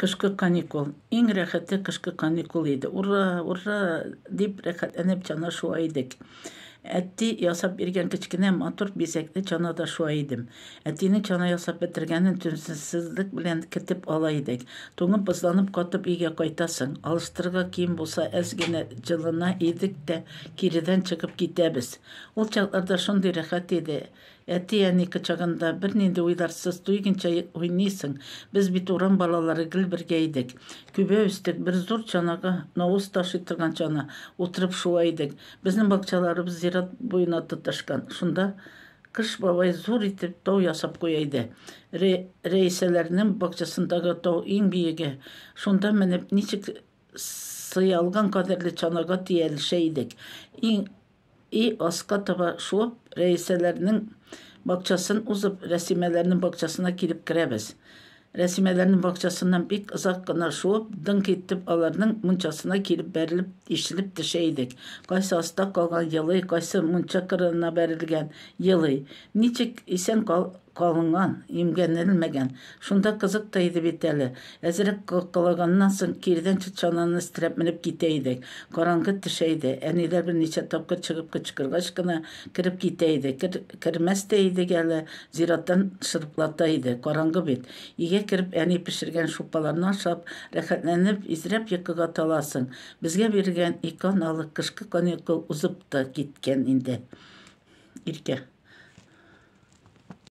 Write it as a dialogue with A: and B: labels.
A: Кышкы каникул. Иң рәхәте кышкы каникул иде. Ура, ура! дип рәхәтләнеп чана шуа идек. Әти ясап биргән кечкенә матур бизәкле чанада шуа идем. Әтинең чана ясап бетергәнен түземсезлек белән көтеп ала идек. Туңып-бозланып катып өйгә кайтасың. Алыштырырга кием булса әз генә җылына идек тә, киредән чыгып китәбез. Ул чакларда шундый рәхәт иде. Әти-әни кочагында бернинди уйларсыз туйгынча уйныйсың. Без бит урам балалары гел бергә идек. Күбә үстек, бер зур чанага, навоз ташый торган чана, утырып шуа идек. Безнең бакчаларыбыз зират буена тоташкан. Шунда Кыш бабай зур итеп тау ясап куя иде. Рәисәләрнең бакчасындагы тау иң биеге. Шунда менеп ничек Сыялган кадерле чанага тиялешә идек. Иң и аска таба шуып, Рәисәләрнең бакчасын узып, Рәсимәләрнең бакчасына килеп керәбез. Рәсимәләрнең бакчасыннан бик озак кына шуып, дыңк итеп аларның мунчасына килеп бәрелеп, ишелеп төшә идек. Кайсы аста калган, елый, кайсы мунча кырыена бәрелгән, елый. Ничек, исән кал, Калынган, имгәнелмәгән. Шунда кызык та иде бит әле. Әзрәк калкалаганнан соң, кирдән чатчананы өстерәп менеп китә идек. Караңгы төшә иде. Әниләр берничә тапкыр чыгып кычкыргач кына, кереп китә иде. Кер-кермәс тә идек әле, зираттан шырпылата иде. Караңгы бит. Өйгә кереп, әни пешергән шулпаларны ашап, рәхәтләнеп, изрәп йокыга таласың. Безгә бирелгән ике аналык кышкы каникул узып та киткән инде. Иркә.